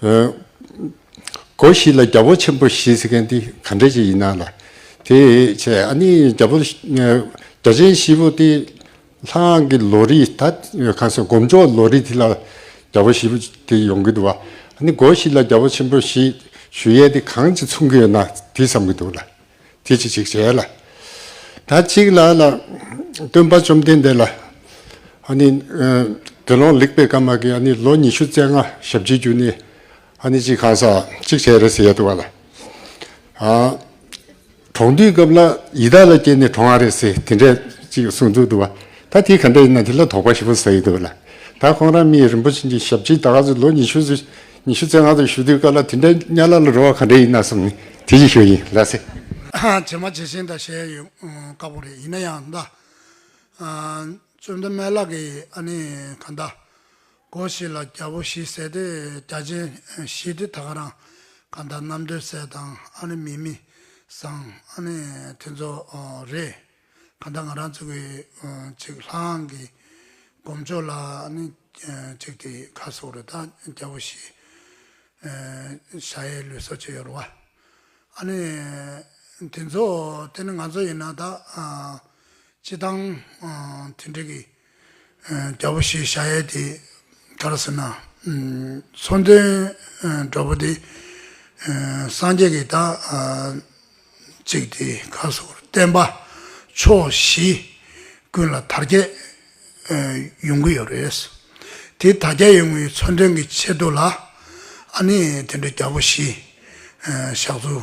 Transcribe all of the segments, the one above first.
སྒོ་བཞི་ལ་རྒྱ་བོད་ཆེན་པོ་བཞི་ཟེར་མཁན་དེ་ག་འདྲ་ཞིག་ཡིན་ན་ལ། དེ་ཆེ་ཨ་ནི་རྒྱ་བོད་རྒྱ་ཆེན་བཞི་པོ་དེ་ལྷང་གི་ལོ་རིས་ད་གང་ཟེར་སྒོམ་ཆོག་ལོ་རིས་དེ་ལ་རྒྱ་བོད་བཞི་པོ་དེ་ཡོང་གི་འདུག་བ་ཨ་ནི་སྒོ་བཞི་ལ་རྒྱ་བོད་ཆེན་པོ་བཞི་ཞུ་ཡས་དེ་གང་ཅིག་མཚུངས་ཀྱི་ཡོད་ན་དེ་བསམ་གྱི་འདུག་ལ། དེ་ཅིག་ཅིག་བྱས་ལ། ད་ཅིག་ལ་ལ། སྟོན་པ་བཅོམ་ལྡན་འདས་ལ། ཨཱ་ནི། དགེ་སློང་ལེགས་པའི་ཀརྨ་གིས་ཨཱ་ནི་ལོ་ཉི་ཤུ་རྩ་ལྔ་ཞབས་ཀྱི་རྒྱུ་ནི། ཨཱ་ནི་ཅིག་གང་ཟག་ཅིག་བྱས་རེས་ཡས་དུ་བ་ལ། ཨཱ། གྲོང་འདུས་སྐབས་ལ་ཡི་དྭགས་ལ་སྐྱེས་ནས་གྲོང་ཨ་རེས་དེ་འདྲས་ཅིག་གསུངས་འདུག་དུ་བ། ད་དེ་གང་འདྲས་ཡིན་ན་དེ་ལ་དོགས་པ་ཞིག་པོ་ཟ་ཡི་དུ་བ་ལ། ད་ཁོང་རང་མི་ཡི་རིན་པོ་ཆེ་འདི་ཞབས་ཀྱི་དག་གཟུགས་ལོ་ཉི་ཤུ། ཉི་ཤུ་རྩེ་ལྔ་དུ་བཞུགས་དུས་བཀའ་ལ་དེ་འདྲ་གཉའ་ལ་ལ་རོལ་བ་ག་འདྲ་ཡིན་ན་བསམ་ནས་དེ་བཞིན་བཞུགས་ཡིན་ལགས་སེ། བྱེ་མ་བྱེ་ཞེན་དང་ཞེ་ཡོད་དཀའ་པོ་རེད་ཡིན་ན་ཡང་མདའ། བཙུན་མདའ་མན་ལགས་ཀྱིས་ཨ་ནི་ག་མདའ། གོ་ཞེས་ལ་རྒྱ་བོ་བཞི་བསད་དེ་རྒྱ་ཆེན་བཞི་དེ་ད་ག་རང་ག་མདའ་གནམ་སྡོད་བསད་དང་ཨ་ནི་མི་མི་བཟང་ཨ་ནི་དེ་ཚོ་རེད། གང་ལྟར་ང་རང་ཚོ་གི་ཆིག་ལྷག་གི་གོམས་ཕྱོགས་ལ་ནི་གཅིག་དེ་ཁ་སོགས་རེ་དག་སྐྱ་བོ་ཞེས་ཤའི་ལུས་སོགས་བྱས་ཡོད་རུང་བ། ཨ་ནི་དེ་ཚོ་དེ་ནི་ང་ཚོ་ཡིན་ན་ད་ཅི་སྟངས་དེ་འདྲ་གི། རྒྱལ་པོ་ཞེས་བྱ་ཡས་དེ་ལྟར་ཟེར་ན། མཚོན་དོན་གྲོགས་པོ་དེ་སངས་རྒྱས་ཀྱི་བདག། ཅིག་དེ་ཁ་སོགས་བསྟན་པ་ཕྱོགས་བཞི་ཀུན་ལ་དར་རྒྱས་ཡོང་གི་ཡོད་རེད། དེ་དར་རྒྱས་ཡོང་བའི་མཚོན་དོན་གྱི་ཆེད་དུ་ལ་ཨ་ནི་དེ་འདྲའི་རྒྱལ་པོ་ཞེས་བཞག་ཚུལ་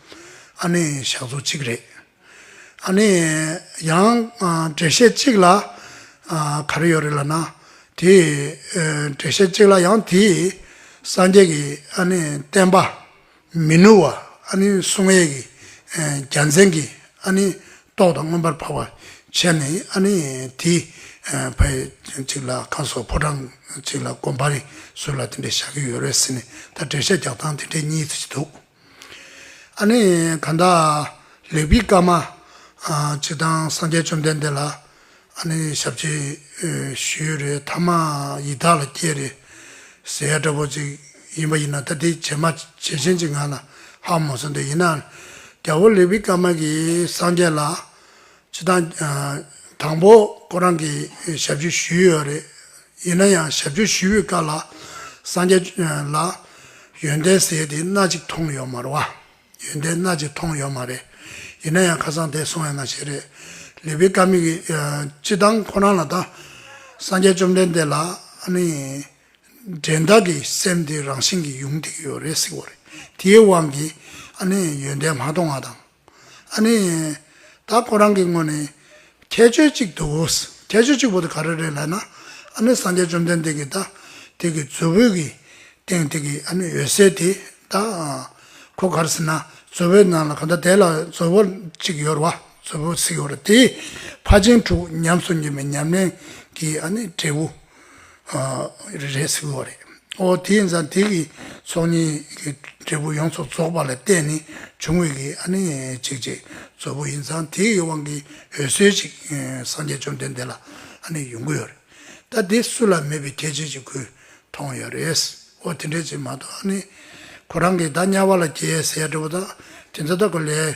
ཨ་ནེ་ཞག་ཚོ་གཅིག་རེད། ཨ་ནེ། ཡང་འགྲེལ་བཤད་གཅིག་ལ་ག་རེ་ཡོད་རེད་ལ་ན། དེ་འགྲེལ་བཤད་གཅིག་ལ་ཡང་དེ་སངས་རྒྱས་ཀྱི་ཨ་ནེ་བསྟན་པ་མི་ནུབ་བ་ཨ་ནེ་གསུང་ཡས་ཀྱི་རྒྱལ་མཚན་གྱི་ཨ་ནེ་ཏོག་དང་མངོན་པར་འཕགས་པ་ཆེ་ནས་ཨ་ནེ་དེ་ཕ་ཡི་གཅིག་ལ་ཁ་སོ་ཕོ་བྲང་གཅིག་ལ་དགོན་པ་རེ་ཟུར་ལ་དེ་འདྲས་བཞག་གི་ཡོད་རེད་ཟེར་ནས་ད་འགྲེལ་བཤད་རྒྱག་སྟངས་དེ་འདྲས་གཉིས་འདུག། ཨ་ནི་གང་དག་ལེགས་པའི་བཀའ་མ། ཇི་དང་སངས་རྒྱས་བཅོམ་ལྡན་འདས་ལ། ཨ་ནི་ཞབས་ཀྱིས་ཞུས་རེ་ཐ་མ་ཡི་དྭགས་ལ་སྐྱེས་རེ། ཟེ་ཡ་སྐྲ་བོ་ཅིག་ཡིན་པ་ཡིན་ན་ད་དེ་བྱེད་མ་བྱེད་ཆེན་གྱི་ངང་ལ་ཧ་མོ་ཟེར་འདོད་ཡིན་ན། རྒྱལ་པོ་ལེགས་པའི་བཀའ་མ་གིས་སངས་རྒྱས་ལ། ཅི་དང། དང་པོ་ཁོ་རང་གིས་ཞབས་ཞུ་ཞུས་ཡོད་རེད། ཡིན་ན་ཡང་ཞབས་ཞུ་ཞུས་པའི་སྐབས་ལ་སངས་རྒྱས་ལ་ཡོན་ཏན་ཟེར་དེ་སྣ་གཅིག་མཐོང་ཡོད་མ་རེད། ཡོན་ཏན་སྣ་གཅིག་མཐོང་ཡོད་མ་རེད། ཡིན་ན་ཡང་ཁ་སང་དེ་སོང་ཡོད་ན་ཞེས་རེད། ལི་པི་ཀ་མིག་གིས་ཅི་དང་ཁོ་རང་ལ་ད་སངས་རྒྱས་བཅོམ་ལྡན་འདས་ལ་འདྲེན་བདག་གི་སེམས་དེ་རང་བཞིན་གྱིས་ཡུམ་འདེགས་ཡོད་རེད་ཟེར་བ་རེད། དེའི་དབང་གིས་ཡོན་ཏན་མ་མཐོང་བ་དང། ཨ་ནི། ད་ཁོ་རང་གི་སྔོན་ནས་ཁྱད་ཆོས་གཅིག་འདུག་གོ། ཁྱད་ཆོས་གཅིག་པོ་དེ་ག་རེ་རེད་ལབ་ན། ཨ་ནི་སངས་རྒྱས་བཅོམ་ལྡན་འདས་ཀྱི་ད་དེ་གི་མཛོད་བོད་ཀྱི་སྟེང་དེ་གི་ཨ་ནི་འོད་གསལ་དེ་ད། ཁོ་གར་ཟེར་ན་མཛོད་བོད་ནང་ལ་ག་ད་དེ་ལ་མཛོད་བོ་གཅིག་ཡོད་ར་བ་མཛོད་བོ་གཟིགས་ཡོད་ར་དེ། ཕ་ཆེན་དྲུག་ཉམས་སུ་མྱི་བའི་ཉམས་ལེན་གྱི་ཨ་ནི་འབྲས་བུ། རེད་ཟེར་བ་རེད། ཨོ་དེས་ན་དེ་གི་ཚོགས་གཉིས་ཀྱི་འབྲས་བུ་ཡོངས་སུ་རྫོགས་པ་ལ་བརྟེན་ནས་བྱུང་བའི་གི་ཨ་ནི་ཅིག་ཅིག་རྫོབ་བུ་ཡིན་ཙང་དེ་གི་དབང་གིས་འོད་གསལ་ཅིག་སངས་རྒྱས་བཅོམ་ལྡན་འདས་ལ་ཨ་ནི་ཡོང་གི་ཡོད་རེད། ད་དེ་སུ་ལ་མེད་པའི་ཁྱད་ཆོས་ཅིག་ཁོས་མཐོང་ཡོད་རེད། ཨོ་དེ་འདྲའི་ཅིག་མ་གཏོགས་ཨ་ནི་ཁོ་རང་གིས་ད་དམྱལ་བ་ལ་སྐྱེ་ཟེར་ཡ་འདྲ་བོ་དག་དེ་ཚོ་དག་གི་ལས་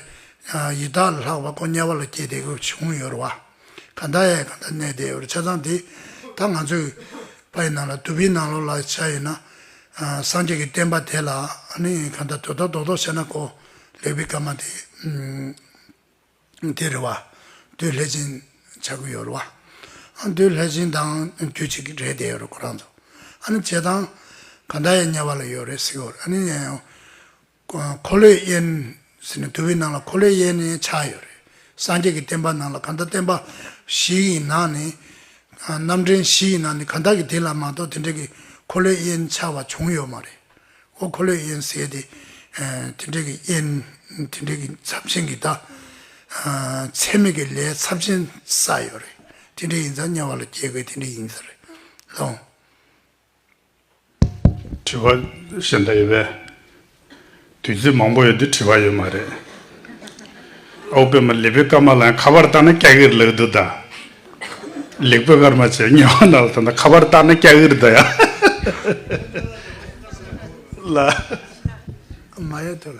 ཡི་དྭགས་ལ་ལྷག་པ་ཀོ་དམྱལ་བ་ལ་སྐྱེ་དེ་གི་བྱུང་ཡོད་རེད་བ། གང་དག་ཡས་གང་དག་གནས་བདེ་བར་ཆ་ཚང་དེ་དག་ང་ཚོས་པའི་ནང་ལ་དུ་བའི་ནང་ལོགས་ལ་བྱ་ཡོད་ན། སངས་རྒྱས་ཀྱི་བསྟན་པ་དེ་ལ་ནི་གང་དག་དོ་ད་རྡོག་རྡོག་བྱས་ན་གོ། ལེགས་པའི་སྐར་མ་དེ་དེ་རེད་བ། དུས་ལྷས་བྱིན་བྱ་དགོས་ཡོད་རེད་བ། དུས་ལྷས་བྱིན་དང་དུས་གཅིག་རེད་བསྡད་ཡོད་རེད་ཁོ་རང་ཚོ། ཨ་ནི་བྱེད་སྟངས་གང་དག་ཡས་དམྱལ་བ་ལ་ཡོད་རེད་ཟེར་གོ། ཨ་ནི། འཁོར་ལོས་གཡས། ཟེར་ནས་དུ་བའི་ནང་ལ་འཁོར་ལོས་གཡས་ནས་ཆགས་ཡོད་རེད། སངས་རྒྱས་ཀྱི་བསྟན་པ་ནང་ལ་གང་ལྟར་བསྟན་པ་བཞི་ཡི་ནང་ནས། རྣམ་འདྲེན་བཞི་ཡི་ནང་ནས་གང་དག་གིས་དེ་ལ་མ་གཏོགས་དེ་འདྲ་གི་འཁོར་ལོས་གཡས་ཆགས་པ་བྱུང་ཡོད་མ་རེད། ཨོ་འཁོར་ལོས་གཡས་ཟེར་དེ། དེ་འདྲ་གི་གཡས། དེ་འདྲ་གི་ཚབས་ཆེན་གྱི་ད། ཚད་མེད་ཀྱི་ལས་ཚབས་ཆེན་བསགས་ཡོད་རེད། དེ་འདྲ་ཡིན་ཙང་དམྱལ་བ་ལ་སྐྱེ་དགོས་དེ་འདྲ་ཡིན་ས་རེད། ལོངས། དྲི་བ་བཞི་འདྲ་ཡོད་པས་དུས་ཚོད་མང་པོ་ཡོད་དུས་དྲི་བ་ཡོད་མ་རེད། ཨོ་པེ་མ་ལི་པེ་སྐར་མ་ལ་ཡང་ཁ་པར་བཏང་ན་སྐྱ་ཧིར་ལགས་འདུག་གདའ། ལིག་པེ་སྐར་མ་ཆེ་ཉེ་བ་ན་ལ་དང་ན་ཁ་པར་བཏང་ན་སྐྱ་ཧིར་འདུག་ཡ། ལ། མ་ཡ་ཐུ་ལ།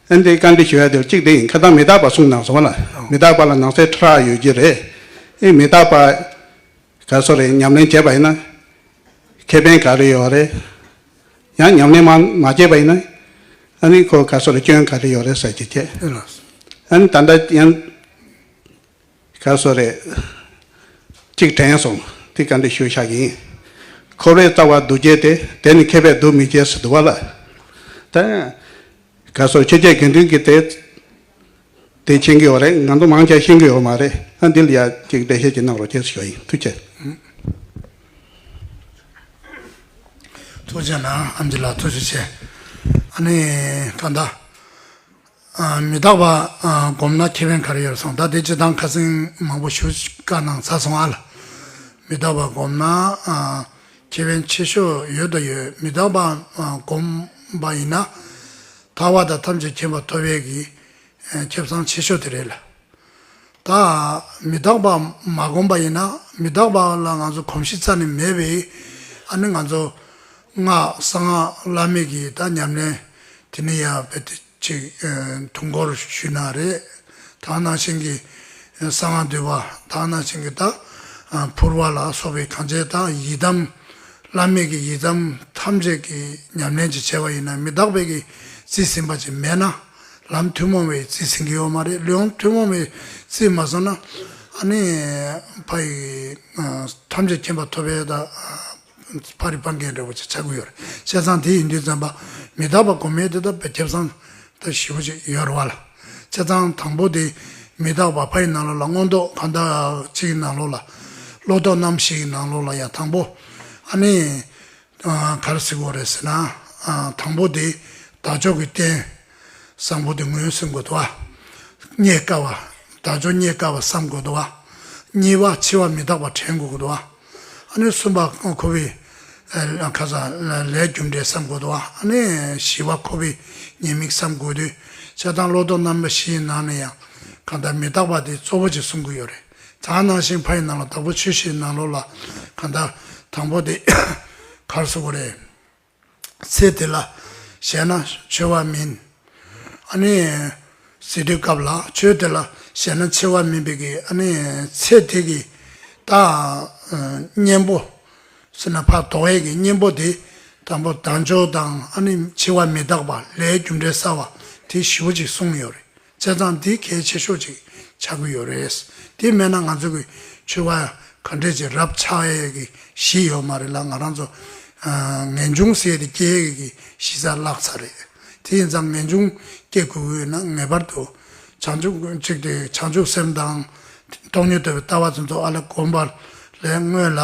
ཨན་ཏེ་བཀའ་འདྲི་ཞུ་ཡ་དེ་གཅིག་དེ་ཡིན་ཁ་སང་མི་རྟག་པ་གསུངས་གནང་སོང་བ་ལ་མི་རྟག་པ་ལ་ནང་གསེས་ཁྲི་ཕྲག་ཡོད་རྒྱུ་རེད་ཨེ་མི་རྟག་པ་ག་སོ་རེད་ཉམས་ལེན་བྱས་པ་ཡིན་ན་ཁེ་ཕན་ག་རེ་ཡོད་རེད་ཡང་ཉམས་ལེན་མ་བྱས་པ་ཡིན་ན་ཨ་ནི་ཁོ་ག་སོ་རེད་སྐྱོན་ག་རེ་ཡོད་རེད་ཟེར་གྱི་ཁྱེད་ཨ་ནི་ད་ལྟ་ཡང། ག་སོ་རེད། གཅིག་དྲན་སོང་དེ་ག་འདྲའི་ཤུལ་བཞག་ཡིན། ཁོ་བོའི་རྩ་བ་སྡུག་སྐྱེས་དེ་དེ་ནི་མཁས་པའི་སྡུག་མི་སྐྱེས་སུ་འདུ་བ་ལ། ད་ག་སོ་ཁྱེད་ཀྱི་དགེ་འདུན་གྱི་དེ་དེ་མཁྱེན་གྱི་ཡོད་རེད་ང་ཚོ་མང་ཆེ་བ་ཤེས་གྱི་ཡོད་མ་རེད་ཨ་འདི་ལ་ཡ་གཅིག་འགྲེལ་བཤད་ཅིག་གནང་རོགས་གྱེས་སུ་ཞུ་བ་ཡིན་ཐུགས་ཆེ། ཐུགས་ཆེ་ན་ཨ་འདི་ལ་ཐུགས་རྗེ་ཆེ། ཨ་ནི་ད་ད། མི་རྟག་པ་བསྒོམས་ན་ཁེ་ཕན་ག་རེ་ཡོད་སོང་ད་དེ་སྤྱི་དང་ཁ་སེང་མང་པོ་ཞུ་དཀའ་སྣང་ཚ་སོང་ཨ་ལ། མི་རྟག་པ་བསྒོམས་ན་ཁེ་ཕན་ཆེ་ཤོས་ཡོད་དོ་ཡོད་མི་རྟག་པ་བསྒོམ་པ་ཡིན་ན་ཐར་བ་དང་ཐམས་ཅད་མཁྱེན་པ་ཐོབ་བས་ཀྱི་ཁྱབ་སང་ཆེ་ཤོས་དེ་རེད་ལ། ད་མི་རྟག་པ་མ་གོམས་པ་ཡིན་ན་མི་རྟག་པ་ལ་ང་ཚོ་གོམས་གཤིས་རྩ་ནས་མེད་པས་ཨ་ནི་ང་ཚོ་སྔགས་གསང་སྔགས་བླ་མེད་ཀྱི་ད་ཉམས་ལེན་དེ་ནི་ཡར་བེད་དེ་ཅིག་དུང་འཁོར་ཞུས་ན་རེད་ད་ནང་བཞིན་གྱི་གསང་སྔགས་བསྡུས་པ་ད་ནང་བཞིན་གྱི་ད་ཕུར་བ་ལ་སོགས་པའི་གང་བྱས་ད་ཡི་དམ་བླ་མེད་ཀྱི་ཡི་དམ་ཐམས་ཅད་ཀྱི་ཉམས་ལེན་ཅིག་བྱས་པ་ཡིན་ན་མི་རྟག་པའི་ཀྱི་རྩིས་ཟིན་པ་ཅིག་མེད་ན། ལམ་ཐུན་མོང་བའི་རྩིས་ཟིན་གྱི་ཡོད་མ་རེད་ལམ་ཐུན་མོང་བའི་རྩིས་མ་ཟིན་ན་ཨ་ནི་ཕ་ཡི་ཐམས་ཅད་མཁྱེན་པ་ཐོབ་པའི་ད་ཕ་རི་པ་འགས་འདྲ་བོ་ཅིག་ཆགས་ཀྱི་ཡོད་རེད་བཤད་ཚང་དེ་ཡིན་དུས་བཙན་པ་མི་དར་བ་གོ་མེད་དེ་ད་ཕ་ཁྱབ་ཚང་ད་བཞི་བོ་ཅིག་ཡོད་རེད་བ་ལ་བཤད་ཚང་དང་པོ་དེ་མི་དར་བ་ཕ་ཡི་ནང་ལོགས་ལ་མངོན་རྟོགས་གང་དག་ཅིག་གི་ནང་ལོགས་ལ་བློ་རྟོགས་རྣམ་ཤེས་ཀྱི་ནང་ལོགས་ལ་ཡང་དང་པོ་ཨ་ནི་གར་གཟིགས་དགོས་རེད་ཟེར་ན། དང་པོ་དེ་དར་ཅོག་གི་རྟེན་བཟང་པོ་དེ་ངོས་ཟིན་དགོས་འདུག་བ། རྙེད་དཀའ་བ། དར་ཅོག་རྙེད་དཀའ་བ་བསམ་དགོས་འདུག་བ། གཉིས་པ་འཆི་བ་མི་རྟག་པ་དྲན་དགོས་འདུག་བ། ཨ་ནི་གསུམ་པ་ཁོ་བོའི། ཁ་སང་ལས་རྒྱུ་འབྲས་བསམ་དགོས་འདུག་བ། ཨ་ནི་བཞི་བ་ཁོ་བོའི་ཉེས་དམིགས་བསམ་དགོས་འདུག་བྱ་དང་བློ་ལྡོག་རྣམ་པ་བཞིའི་ནང་ནས་ཡང། གང་ལྟར་མི་རྟག་པ་དེ་གཙོ་བོ་ཅིག་གསུང་གི་ཡོད་རེད། དག་སྣང་ཞིང་ཕ་ཡི་ནང་ལ་དག་པོ་ཆོས་ཤེས་ནང་ལོགས་ལ་གང་དག། དང་པོ་དེ་གར་སོགས་པ་རེད། ཚེ་དེ་ལ་གཞལ་ན་འཆོལ་བ་མིན། ཨ་ནི། ཟེར་དུས་སྐབས་ལ་ཆོས་དེ་ལ་གཞལ་ན་འཆོལ་བ་མིན་པའི་གི་ཨ་ནི་ཚེ་དེ་གི་དང། གཉེན་པོ། སེར་སྣ་ཕག་དོག་ཡས་ཀྱི་གཉེན་པོ་དེ་དང་པོ་དག་འཇོག་དང་ཨ་ནི་འཆི་བ་མི་རྟག་པ་ལྷའི་རྒྱུ་འབྲས་བསལ་བ་དེ་བཞི་བོ་ཅིག་གསུངས་ཡོད་རེད། བཙལ་སྟངས་འདི་གལ་ཆེ་ཤོས་ཅིག་ཆགས་ཀྱི་ཡོད་རེད། དེ་མེད་ན་ང་ཚོ་གི་ཆོས་པ་ག་འདྲས་ཀྱི་རབ་ཆགས་ཡས་ཀྱི་གཞི་ཡོད་མ་རེད་ལ་ང་རང་ཚོ་ངེས་འབྱུང་ཟས་དེ་སྐྱེ་ཡས་ཀྱི་གཞི་རྩ་བརླགས་ཚར་རེད། དེ་ཡིན་ཙང་ངེས་འབྱུང་སྐྱེ་དགོས་ཀྱི་ཡོད་ན་ངེས་པར་དུ་བྱང་ཆུབ་ཅིག་དེ་བྱང་ཆུབ་སེམས་དང་སྟོང་ཉིད་དོད་པའི་ལྟ་བ་དེ་ཚོ་ཨ་ལས་གོམས་པ་ལས་སྔོན་ལ་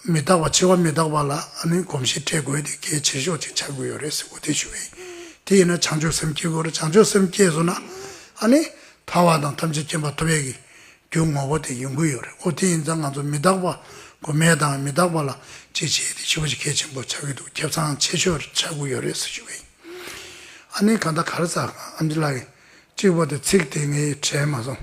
མི་རྟག་པ་ཆེ་བ་མི་རྟག་པ་ལ་ནི་གོམས་གཤིས་སྤྲད་དགོས་ཏེ་གལ་ཆེ་ཤོས་ཅིག་ཆགས་དགོས་ཡོད་རེད་ཟེར་གོ་ཐལ་ཞུ་བས་ཡིན། དེ་ཡིན་ན་བྱང་ཆུབ་སེམས་སྐྱེ་དགོས་རེད་བྱང་ཆུབ་སེམས་སྐྱེས་སོང་ན། ཐར་བ་དང་ཐམས་ཅད་མཁྱེན་པ་ཐོབ་ཡས་ཀྱི་རྒྱུ་ངོ་བོ་དེ་ཡོང་གི་ཡོད་རེད་ཨོ་དེ་ཡིན་ཙང་ང་ཚོ་མི་རྟག་པ་གོ་མེད་དང་མི་རྟག་པ་ལ་ཅི་བྱེད་དེ་ཤི་བོ་ཞིག་གལ་ཆེན་པོ་ཆགས་ཀྱི་འདུག་ཁྱབ་ཚང་ཆེ་ཤོས་ཆགས་དགོས་ཡོད་རེད་ཟེར་ཞུ་བས་ཡིན། ཨ་ནི་གང་ལྟར་ག་རེ་ཟ་ཨ་མཆི་ལགས། གཅིག་པོ་དེ་ཚིག་དེ་ངས་དྲན་མ་སོང།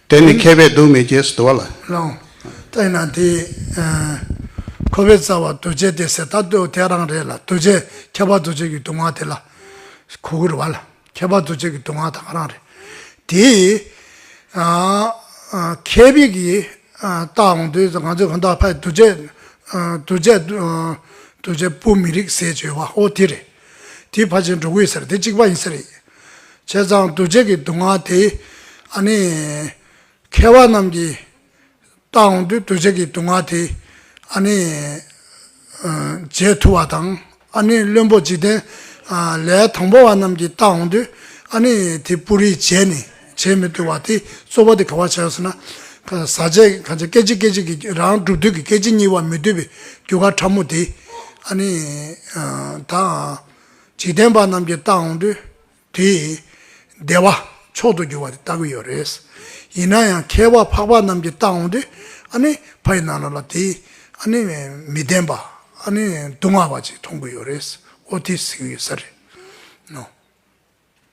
དེ་ནི་མཁས་པས་སྡུག་མི་གྱེས་སུ་དུ་བ་ལ། བླངས། བསྟན་ན་དེ། ཁོ་བོའི་རྩ་བ་འདུ་བྱེད་དེ་ཟད་ད་གདོད་དེ་རང་རེད་ལ་འདུ་བྱེད་ཁྱད་པར་འདུ་བྱེད་ཀྱི་སྡུག་བསྔལ་དེ་ལ། གུ་གུ་རུ་བ་ལ། ཁྱད་པར་འདུ་བྱེད་ཀྱི་སྡུག་བསྔལ་དང་རང་རེད། དེ། མཁས་པས་ཀྱི། རྟགས་འོང་དུས་ང་ཚོས་གང་དག་ཕ་འདུ་བྱེད། འདུ་བྱེད། འདུ་བྱེད་པོ་མི་རིགས་ཟས་བཅོས་བ་ཨོ་དེ་རེད། དེ་ཕ་ཆེན་འབྲོག་ཁུལ་ཟེར་དེ་གཅིག་པ་ཡིན་ས་རེད། བྱས་ཙང་གདུལ་བྱ་གི་སྡུག་བསྔལ་དེ་ཨ་ནི་མཁས་བ་རྣམས་ཀྱིས་བརྟགས་འོང་དུས་གདུལ་བྱ་གི་སྡུག་བསྔལ་དེ་ཨ་ནི་བརྗེད་ཐུབ་བ་དང་ཨ་ནི་བློན་པོ་འཇིག་རྟེན་ལས་དང་པོ་བ་རྣམས་ཀྱིས་བརྟགས་འོང་དུས་ཨ་ནི་དེ་སྤུ་རིས་བརྗེད་ནས་བྱེད་མི་ཐུབ་བ་དེ་རྩོད་པ་དེ་ག་བར་བྱས་ཟེར་ན། ཟག་བཅས་ཀྱི་ཁ་ཆེ་སྐད་ཅིག་སྐད་ཅིག་གིས་རང་གྲུབ་དུས་ཀྱི་སྐད་ཅིག་གཉིས་བར་མི་སྡུད་པའི་རྒྱུ་སྐར་ཕྲ་མོ་དེ་ཨ་ནི་དང། འཇིག་རྟེན་པ་རྣམས་ཀྱི་རྟགས་འོང་དུས་དེ་ཡི། བདེ་བ་མཆོག་ཏུ་འགྱུར་བ་དེ་ལྟ་གི་ཡོད་རེད། ཡིན་ན་ཡང་མཁས་པ་འཕགས་པ་རྣམས་ཀྱི་རྟགས་འོང་དུས་ཨ་ནི་ཕ་ཡི་ནང་ན་ལ་དེ་ཡི་ཨ་ནི་མི་བདེན་པ་ཨ་ནི་སྡུག་བསྔལ་བ་ཅིག་མཐོང་གི་ཡོད་རེད། ཨོ་དེ་ཟིག་ཡོད་ས་རེད།